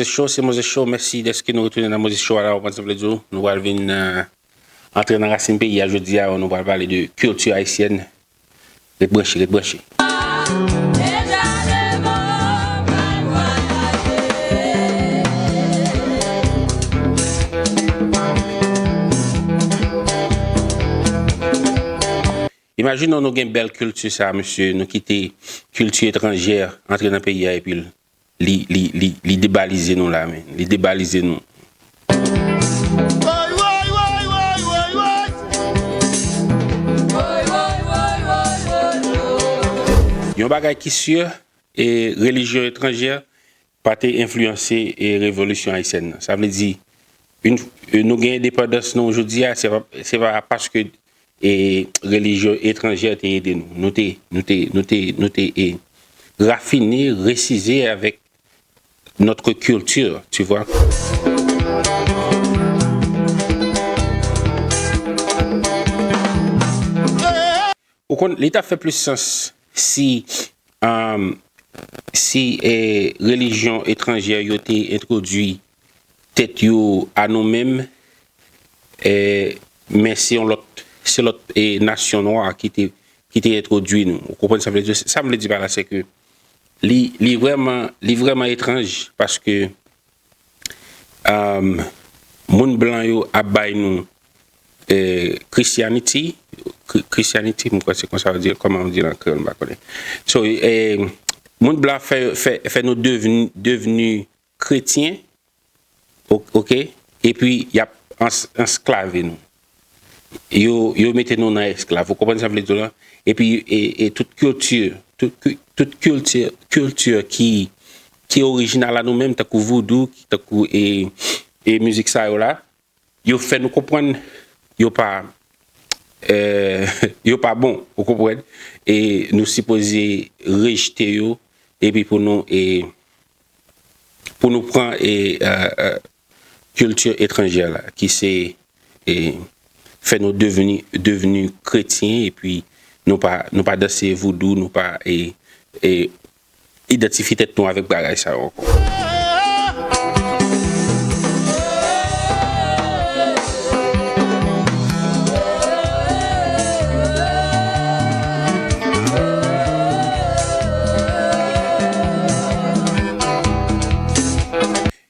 Moses Show se Moses Show mèsi dèske nou retounen nan Moses Show a la ou konn sa m vle di w nou pral vin antre nan rasin peyi a jodi a nou pral pale de kilti ayisyèn ret branche ret branche. Imajine w nou gen bèl kilti sa a mesye nou kite kilti etranjè antre nan peyi a epi l Li debalize nou la men. Li debalize nou. Yon bagay ki sur, relijyon etranjè pa te enfliyanse revolisyon ayisyèn nan. Sa vle di, nou gen endepandans nou jodi a, se pa paske e relijyon etranjè te ede nou. Nou te, nou te, nou te, nou te e rafine, resize avèk notre culture, tu vois. Ou konn, li ta fè plis sans si, si e relijyon etranjè yo te entwodui Tèt yo a nou menm eh men se yon lòt se lòt nasyon nwa ki te ki te entwodui nou ou konprann sa m vle di sa m vle di pa la se ke li li vrèman li vrèman etranj paske ehm moun blan yo ap bay nou eh christianity christianity m kwè se konsa yo di l kòman yo di l an kreyòl m pa konnen so eh moun blan fè fè fè nou devni devni Kretyen ok epi yap ansklave nou yo mete nou nan esklav ou konprann sa vle di la epi e tout kilti tout kilti ki orijinal a nou menm tankou voudou tankou e mizik sa yo la. Yo fè nou konprann yo pa yo pa bon ou konprann e nou sipoze rejte yo epi pou nou e pou nou pran e kilti etranjè la ki se e fè nou devni devni kretyen epi nou pa nou pa danse voudou nou pa e e idantifye tèt nou avèk bagay sa yo ankò.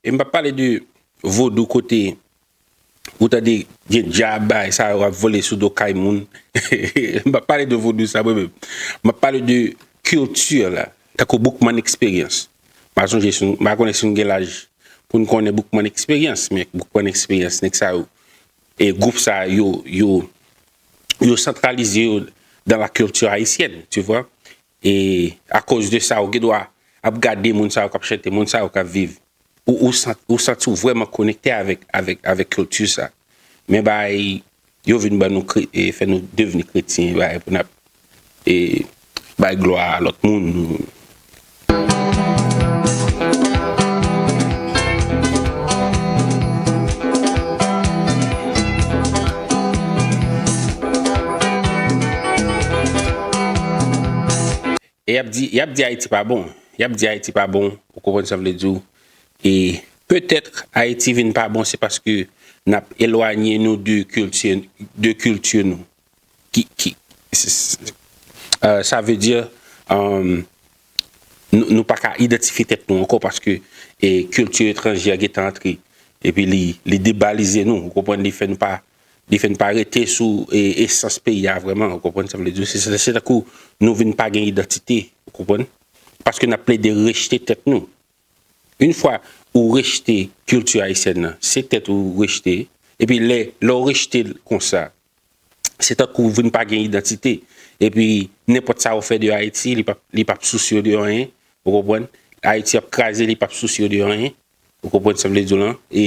E m p ap pale de vodou kote. Ou tande gen djab bagay sa yo ap vole sou do kay moun m pap pale de vodou sa mwen menm m ap pale de culture la tankou Boukman eksperyans m pa sonje si m pa konnen si nou gen laj pou n konnen Boukman eksperyans men Boukman eksperyans nèg sa yo e gwoup sa yo yo yo santralize yo dan la culture ayisyèn tu vwa. E akoz de sa ou gen dwa ap gade moun sa yo k ap chante, moun sa yo k ap viv. Ou santi ou vrèman konekte avèk kilti sa. Men bagay yo vin ban nou, fè nou devni kretyen bagay pou n ap bay glwa a lòt moun. E yap di yap di ayiti pa bon yap di ayiti pa bon ou konprann sa vle diw e petetre ayiti vin pa bon se paske nap elwanye nou de kilti de kilti nou ki ki sa vle di euh nou paka idantifye tèt nou ankò paske kilti etranjè gentan antre epi li li debalize nou ou konprann li fè nou pa Li fè n pa rete sou esans peyi a vrèman, ou konprann sa m vle di w. Se tankou nou vin pa gen idantite, ou konprann, paske n ap plede rejte tèt nou. Yon fwa ou rejte kilti ayisyèn nan, se tèt ou rejte, epi lè ou rejte l konsa, se tankou ou vin pa gen idantite, epi nenpòt sa ou fè de Ayiti, li p ap sousye w de anyen, ou konprann, Ayiti ap kraze, li p ap sousye w de anyen. Ou konprann sa m vle di w lan? E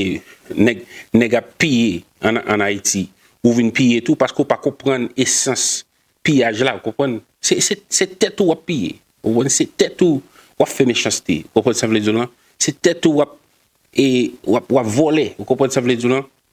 nèg, nèg ap piye an an Ayiti, ou vin piye tou paske ou pa konprann esans piyaj la, ou konprann? Se, se, se tèt ou w ap piye, ou konprann? Se tèt ou w ap fè mechanste, ou konprann sa m vle di w lan? Se tèt ou w ap, e, w ap, w ap vòlè, ou konprann sa m vle di w lan?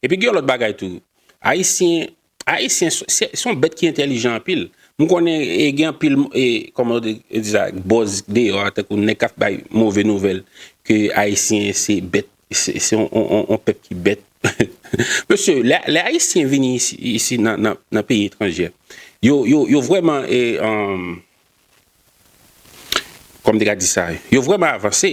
E pi gen yon lòt bagay tou. Ayisyen, Ayisyen se yon bèt ki entèlijan anpil. M konnen gen anpil, kòman yo di sa, bòz deyò a, tankou nèg k ap bay move nouvèl ke Ayisyen se bèt, se yon pèp ki bèt. Mesye, lè Ayisyen vini isi nan peyi etranjè, yo vrèman, kòman m te ka di sa, yo vrèman avanse.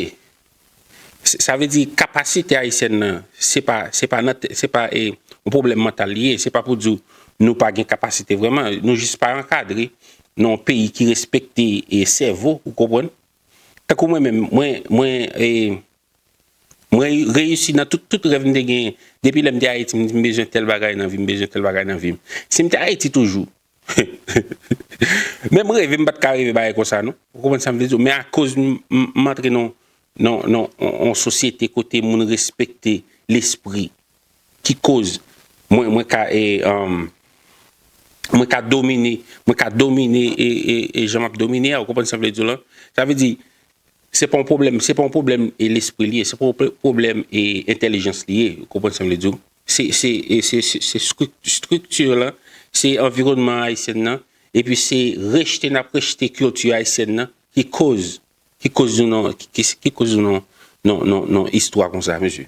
Sa vle di kapasite ayisyèn nan se pa se pa nan se pa e yon pwoblèm mantal li ye se pa pou di w nou pa gen kapasite vrèman nou jis pa ankadre nan yon peyi ki respekte e sèvo ou konprann tankou mwen menm mwen mwen e mwen reyisi nan tout tout rèv m te genyen depi lè m te ayiti m di m bezwen tèl bagay nan vi m bezwen tèl bagay nan vi m si m te ayiti toujou Menm reve m pat ka reve bagay konsa non. Ou konprann sa m vle di w? Men akoz m antre nan yon sosyete kote moun respekte lespri ki koz mwen ka mwen ka domine mwen ka domine jan m ap domine a ou konprann sa m vle di w lan? Sa vle di Se pa yon pwoblèm, se pa yon pwoblèm e lespri li ye, se pa yon pwoblèm e entèlijans li ye, ou konprann sa m vle di w. Se, se, se, se estrikti lan, se anviwònman Ayisyen nan, epi se rejte n ap rejte kilti Ayisyen nan ki koz, ki koz nou nan, ki koz nou nan, nan, nan istwa konsa mesye.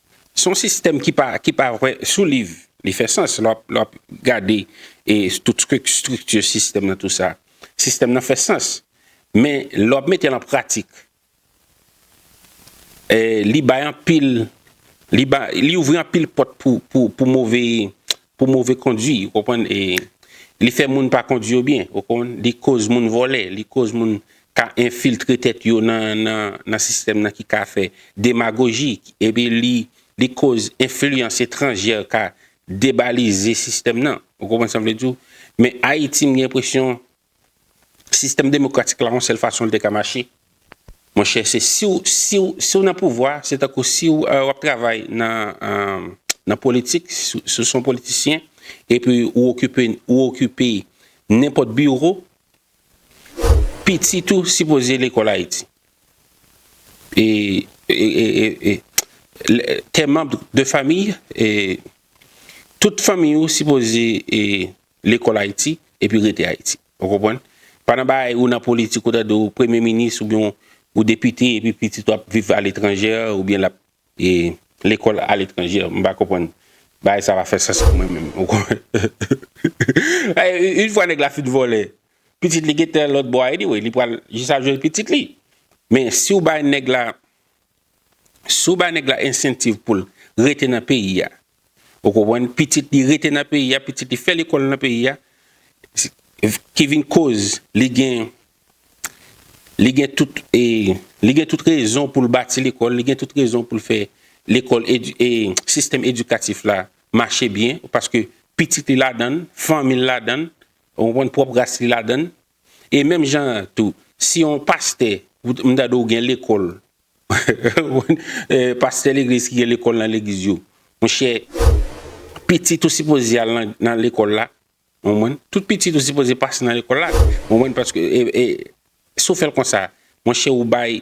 Se yon sistèm ki pa ki pa vre sou liv li fè sans lè w ap gade e tout estrikti sistèm nan tout sa sistèm nan fè sans men lè w ap mete l an pratik e li bay anpil li ba li ouvri anpil pòt pou pou move pou move kondwi ou konprann e li fè moun pa kondwi yo byen ou konprann li koz moun vòlè li koz moun ka enfiltre tèt yo nan sistèm nan ki ka fè demagoji epi li koz enfliyans etranjè ka debalize sistèm nan ou konprann sa m vle di w men ayiti m gen enpresyon Sistèm demokratik la yon sèl fason li te ka mache. Monchè se siw siw siw nan pouvwa se tankou siw wap travay nan nan politik siw son politisyen epi ou okipe ou okipe nenpòt biwo pitit ou sipoze lekòl ayiti e e tè manb de famiy e tout famiy ou sipoze e Lekòl Ayiti, epi rete Ayiti. Ou konprann? Pa nan bagay ou nan politik ou tande ou premye minis oubyen ou depite epi pitit ou ap viv aletranje oubyen l ap lekòl aletranje. M pa konprann. Bagay sa pa fè sans pou mwen menm. Ou konprann? Une fwa nèg la fin vòlè, pitit li gentan lòtbò a anyway. Li pral jis ap jwenn pitit li. Men si ou bay nèg la. Si w bay nèg la ensentiv pou l rete nan peyi a, ou konprann, pitit li rete nan peyi a, pitit li fè lekòl nan peyi a, ki vin koz li gen, li gen tout, li gen tout rezon pou l bati lekòl, li gen tout rezon pou l fè lekòl, sistèm edikatif la mache byen, paske pitit li ladan l, fanmi l ladan l, ou konprann, pwòp ras li ladan l, E menm jan an tou, si yon pastè, m ta di w gen lekòl, pastè legliz ki gen lekòl nan legliz yo, monchè, pitit ou sipoze al nan lekòl la, ou konprann? Tout pitit ou sipoze pase nan lekòl la, ou konprann? Paske, si w fè l konsa, monchè ou bay.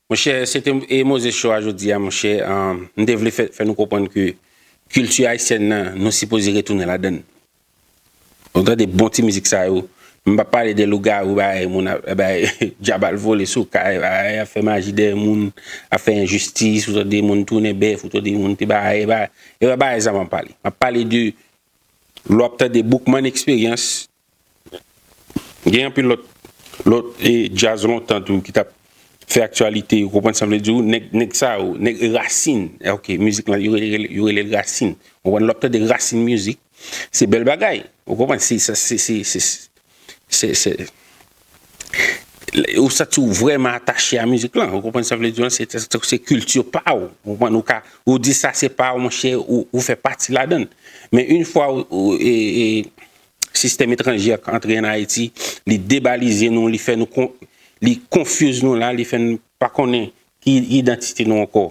Monchè se te e Moses show a jodi a monchè m te vle fè nou konprann ke kilti ayisyèn nan nou sipoze retounen ladan l nou tande bon ti mizik sa yo m pap pale de lougarou bagay moun ap bay djab al vole sou kay bagay ap fè maji dèyè moun ap fè enjistis ou tande moun tounen bèf ou tande moun te bay bay e pa bagay sa m ap pale m ap pale de lè w ap tande boukman eksperyans Gen anpil lòt lòt djaz lontan tou ki tap fè aktyalite ou konprann sa m vle di w nèg nèg sa yo nèg rasin ok mizik lan yo rele yo rele l rasin ou konprann lè w ap tande rasin mizik se bèl bagay ou konprann se sa se se se se se ou santi w vrèman atache a mizik lan ou konprann sa m vle di w la se tank se kilti pa w ou konprann ou ka ou di sa se pa w monchè ou fè pati ladan l men yn fwa ou e e Sistèm etranje a k antre an Ayiti, li debalize nou, li fè nou kon, li konfiz nou la, li fè n pa konnen ki idantite nou ankò.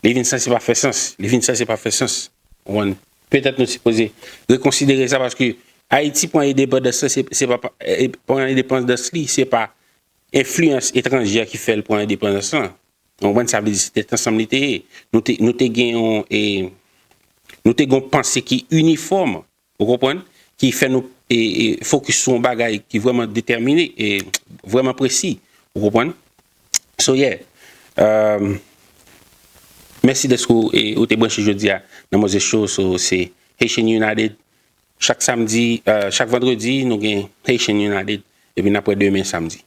Li vin sanse pa fè sans, li vin sanse pa fè sans. Ou konprann? Petèt nou sipoze rekonsidere sa paske Ayiti pran edepandans la se, se pa, pran edepandans li se pa enfliyans etranje a ki fè l pran edepandans lan. Ou konprann? Sa vle di se tèt ansanm li te ye. Nou te, nou te gen yon, e, nou te gen yon panse ki inifòm. Ou konprann? Ki fè nou fokis sou yon bagay ki vrèman detèmine, vrèman presi. Ou konprann? So yeah. Mèsi dèske ou te branche jodi a nan Moses Show sou Haitian United. Chak samdi, chak vandredi nou gen Haitian United epi n ap wè demen samdi.